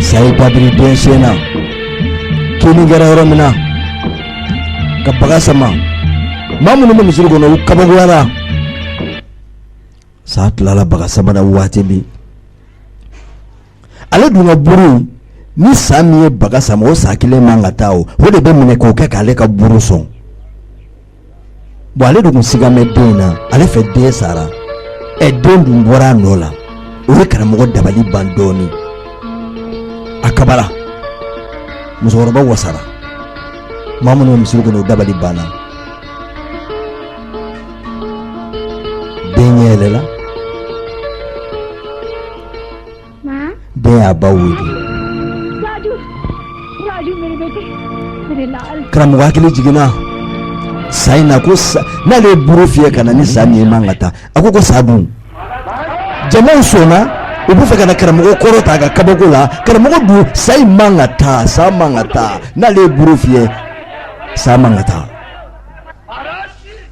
Sa y'a da biri den sen na kinni kɛra yɔrɔ min na ka baga sama maa minnu bɛ misiri kɔnɔ u kabakoyara sa tilala baga sama na waati min ale dun ka buru ni sa min ye baga sama o sa kelen man ka taa o o de bɛ minɛ k'o kɛ k'ale ka buru sɔn bon ale de tun sigalen den in na ale fɛ den sara ɛ den dun bɔra a nɔ la o ye karamɔgɔ dabali ban dɔɔnin a kabara musokɔrɔba wasara maa minnu bɛ misiri kɔnɔ o dabali banna den ɲɛ yɛlɛla den y'a ba weele karamɔgɔ hakili jiginna sa in na ko n'ale ye buru fiyɛ ka na ni sa min ye man ka taa a ko ko sa dun jamaw sɔnna u b'a fɛ ka na karamɔgɔ kɔrɔta a ka kabako la karamɔgɔ dun sa in man ka taa sa man ka taa n'ale ye buru fiyɛ sa man ka taa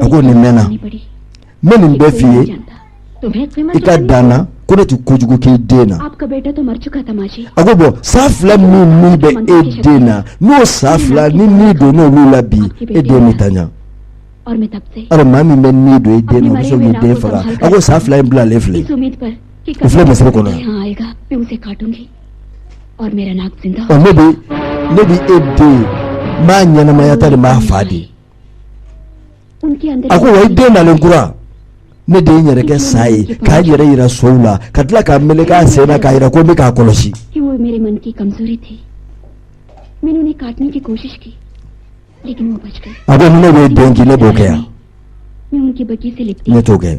a ko nin mɛnna n bɛ nin bɛɛ f'i ye i ka da n na ko ne tɛ kojugu k'i den na a ko bɔn sa fila min min bɛ e den na n'o sa fila ni ni donna olu la bi e den bɛ tiɲɛ alors maa min bɛ ni don e den na o bɛ se k'i den faga a ko sa fila in bilalen filɛ o filɛ misiri kɔnɔ yan ɔ ne bɛ ne bɛ e den n b'a ɲɛnamaya ta de n b'a fa de A ko wa i den nalen kura ne de ye n yɛrɛ kɛ sa ye k'a yɛrɛ yira sow la ka tila ka meleke a sen na k'a yira ko n bɛ k'a kɔlɔsi a ko ni ne bɛ i den kin ne b'o kɛ yan ne t'o kɛ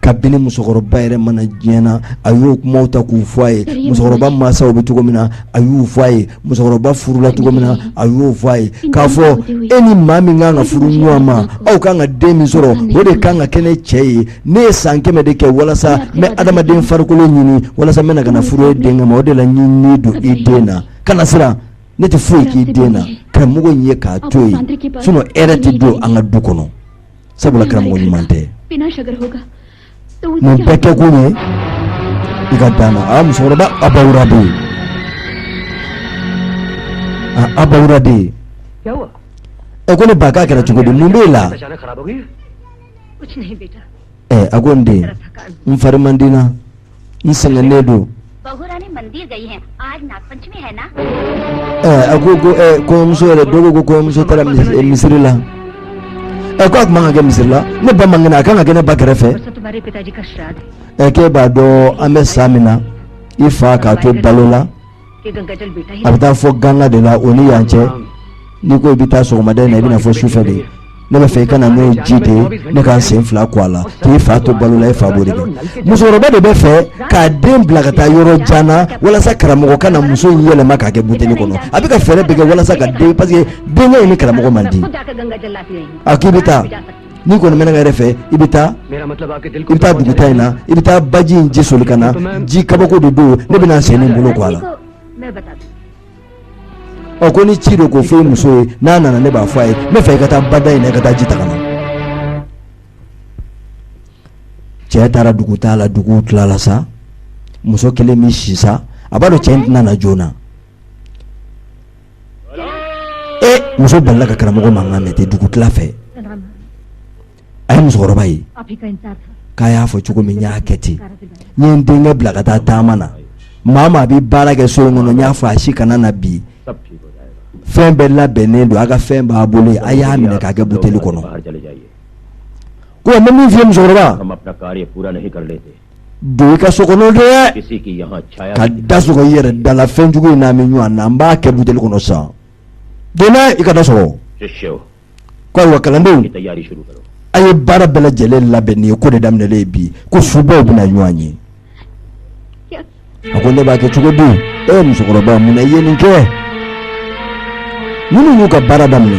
kabini musokɔrɔba yɛrɛ ma na diɲɛ na a y'o kumaw ta k'u fɔ a ye musokɔrɔba mansaw bɛ cogo min na a y'u fɔ a ye musokɔrɔba furula cogo min na a y'o fɔ a ye k'a fɔ e ni maa min kan ka furu ɲɔgɔn ma aw kan ka den min sɔrɔ o de kan ka kɛ ne cɛ ye ne ye san kɛmɛ de kɛ walasa n bɛ adamaden farikolo ɲini walasa n bɛna ka na furu e den ma o de la n ye ni don i den na kana siran ne tɛ foyi k'i den na karamɔgɔ in ye k'a to yen sinɔn hɛrɛ tɛ don an ka du kɔnɔ sabula karamɔgɔ ɲuman tɛ nin bɛɛ kɛ kun ye i ka da n na a musokɔrɔba abawura bɛ yen a abawura bɛ yen ɛ ko ne ba k'a kɛra cogo di mun b'e la ɛ a ko n den n fari man di n na n sɛgɛnnen don a ko ko kɔɲɔmuso yɛrɛ don ko ko kɔɲɔmuso taara misiri la ɛ ko a tun man kan ka kɛ misiri la ne ba man kɛnɛ a ka kan ka kɛ ne ba kɛrɛfɛ ɛ k'e b'a dɔn an bɛ san min na i fa k'a to balo la a bɛ taa fo ganga de la o ni yan cɛ n'i ko i bɛ taa sɔgɔmada in na i bɛ na fo sufɛ de ne bɛ fɛ i ka na n'o ji de ye ne ka n sen fila ko a la k'i fa to balo la i fa b'o de kɛ musokɔrɔba de bɛ fɛ k'a den bila ka taa yɔrɔ jan na walasa karamɔgɔ ka na muso in yɛlɛma k'a kɛ buteli kɔnɔ a bɛ ka fɛɛrɛ bɛɛ kɛ walasa ka den parce que denkɛ in ni karamɔgɔ man di a k'i bɛ taa n'i kɔni bɛ ne ka hɛrɛ fɛ i bɛ taa dugutaa in na i bɛ taa baji in ji soli ka na ji kabako de don ne bɛna sen ni bolo ko a la ɔ ko ni ci don k'o fɔ i muso ye n'a nana ne b'a fɔ a ye n bɛ fɛ i ka taa bada in na i ka taa ji ta ka na cɛ taara dugutaa la dugu tilala sa muso kelen min sisan a b'a dɔn cɛ in tɛna na joona muso balala ka karamɔgɔ mankan mɛn ten dugu tila fɛ a ye musokɔrɔba ye k'a y'a fɔ cogo min n y'a kɛ ten n ye n denkɛ bila ka taa taama na maa maa bɛ baara kɛ so in kɔnɔ n y'a fɔ a si kana na bi fɛn bɛɛ labɛnnen don a ka fɛn b'a bolo a y'a minɛ k'a kɛ buteli kɔnɔ ko n bɛ min f'i ye musokɔrɔba don i ka so kɔnɔ de ka da sɔgɔ i yɛrɛ da la fɛnjugu in n'a min ɲɔgɔn na n b'a kɛ buteli kɔnɔ sa donna i ka da sɔgɔ ko ayiwa kalandenw a ye baara bɛɛ lajɛlen labɛn nin ye ko de daminɛlen bi ko subaw bɛna ɲɔgɔn ye a ko ne b'a kɛ cogo di e ye musokɔrɔba mun na i ye nin kɛ ninnu y'u ka baara daminɛ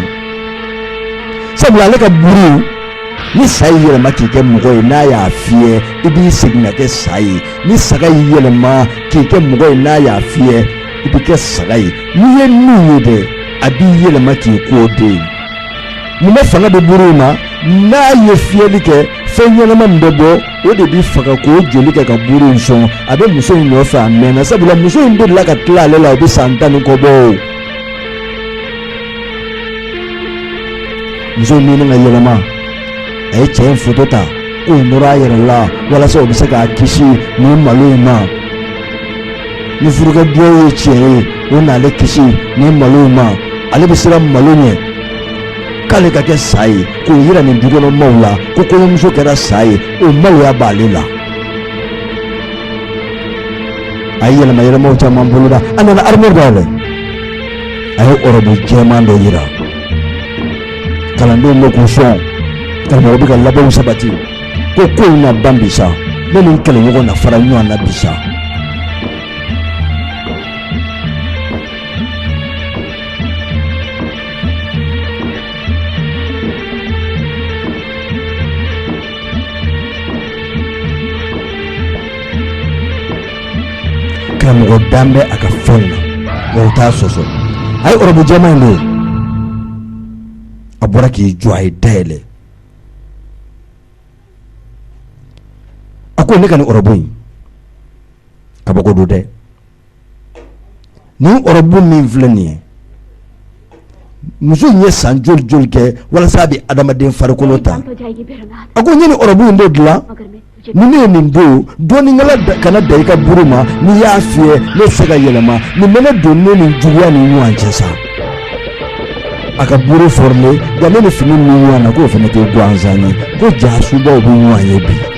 sabula ale ka buru ni sa y'i yɛlɛma k'i kɛ mɔgɔ ye n'a y'a fiyɛ i bɛ segin ka kɛ sa ye ni saga y'i yɛlɛma k'i kɛ mɔgɔ ye n'a y'a fiyɛ i bɛ kɛ saga ye n'i ye min ye dɛ a b'i yɛlɛma k'i k'o de ye mun bɛ fanga di buru in ma n'a ye fiyɛli kɛ fɛn ɲɛnama min bɛ bɔ o de b'i faga k'o joli kɛ ka buru in sɔn a bɛ muso in nɔfɛ a mɛnna sabula muso in delila ka tila ale la o bɛ san tan ni kɔ bɔ o muso in mɛnna ka yɛlɛma a ye cɛ in foto ta k'o nɔrɔ a yɛrɛ la walasa o bɛ se k'a kisi nin malo in ma ni furukɛ duwawu ye tiɲɛ ye o n'ale kisi nin malo in ma ale bɛ siran malo ɲɛ k'ale ka kɛ sa ye k'o yira nin dukɔnɔ maaw la ko kɔɲɔmuso kɛra sa ye o maloya b'ale la a ye yɛlɛma yɛlɛmaw caman boloda a nana arimuwari dayɛlɛ a ye ɔrɔbu jɛman dɔ yira kalandenw na k'u sɔn karamɔgɔ bɛ ka labɛnw sabati ko ko in na ban bi sa ne ni n kɛlɛɲɔgɔn na fara ɲɔgɔn na bi sa Karamɔgɔ dalen bɛ a ka fɛn na mɔgɔw t'a sɔsɔ a ye ɔrɔbu jɛman in don a bɔra k'i jɔ a y'i da yɛlɛ a ko ne ka nin ɔrɔbu in kabako don dɛ nin ɔrɔbu min filɛ nin ye muso ye san joli joli kɛ walasa a bɛ adamaden farikolo ta a ko n ye nin ɔrɔbu in de dila ni ne ye nin don dɔnnikɛla kana da i ka buru ma n'i y'a fiyɛ ne se ka yɛlɛma nin bɛna don ne ni juguya ni ɲɔgɔn cɛ sa a ka buru fɔra dɛ nka ne ni fini bɛ ɲɔgɔn na k'o fana tɛ gansan ye ko jaa subaaw bɛ ɲɔgɔn ye bi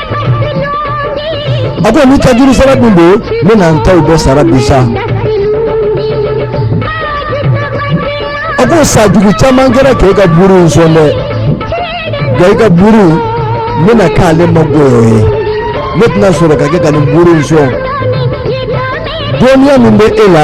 A ko ni tajuru sara dun don ne na n taw bɛɛ sara bi sa a ko sa jugu caman kɛra k'e ka buru in sɔn dɛ nka i ka buru bɛna k'ale ma goya ye ne tɛna sɔrɔ ka kɛ ka nin buru in sɔn dɔnniya min bɛ e la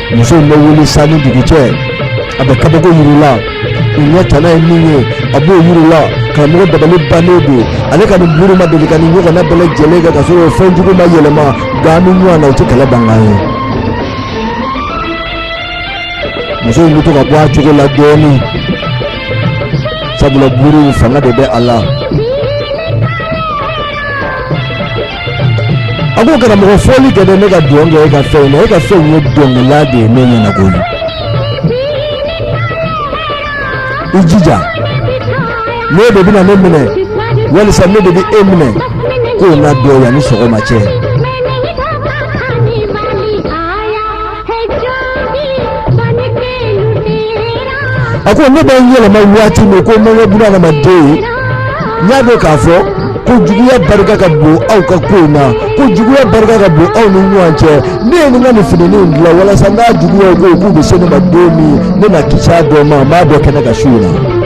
muso in bɛ wuli san ni dugu cɛ a bɛ kabako yir'u la u ɲɛ tana ye min ye a b'o yir'u la karamɔgɔ dabali bannen don ale ka nin buru ma deli ka nin ɲɔgɔnna bɛɛ lajɛlen kɛ ka sɔrɔ fɛn jugu ma yɛlɛma nka an bɛ ɲɔgɔn na u tɛ kɛlɛ bankan ye muso in bɛ to ka bɔ a cogo la dɔɔnin sabula buru in fanga de bɛ a la a ko karamɔgɔ fɔli kɛ dɛ ne ka dɔn kɛ e ka fɛn na e ka fɛn ye dɔnkɛla de ye ne ɲɛna koyi i jija n'e de bɛna ne minɛ walisa ne de bɛ e minɛ k'o na dɔn yanni sɔgɔma cɛ. a ko ne bɛ n yɛlɛma waati min ko mangɛ buna adamaden ye n y'a dɔn k'a fɔ ko juguya barika ka bon aw ka ko in na ko juguya barika ka bon aw ni ɲɔgɔn cɛ ne ye n ka nin finininw dilan walasa n ka juguyaw ko k'u bɛ se ne ma don min ne na kisi a dɔ ma n b'a bɔ kɛnɛ kan su in na.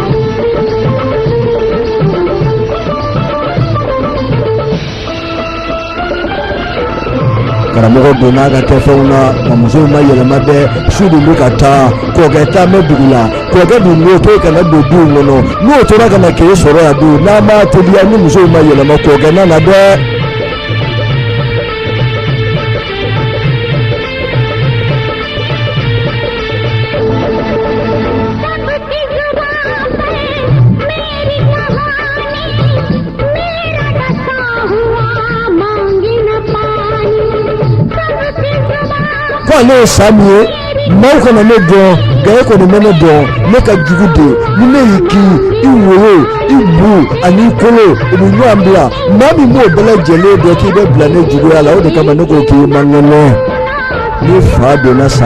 karamɔgɔ donna ka kɛfɛnw na wa muso in ma yɛlɛma dɛ su dun bɛ ka taa kɔkɛ taa bɛ dugu la kɔkɛ dun b'o to kana don du in kɔnɔ n'o tora ka na k'e sɔrɔ yan dun n'a ma teliya ni muso in ma yɛlɛma kɔkɛ nana dɛ. ale ye sa min ye maaw kana ne dɔn nka e kɔni bɛ ne dɔn ne ka jugu dɛ ni ne y'i kin i wolo i bu ani i kolo u bɛ ɲɔgɔn bila maa min b'o bɛɛ lajɛlen dɔn k'i bɛ bila ne juguya la o de kama ne ko k'i man kɛnɛ ne fa donna sa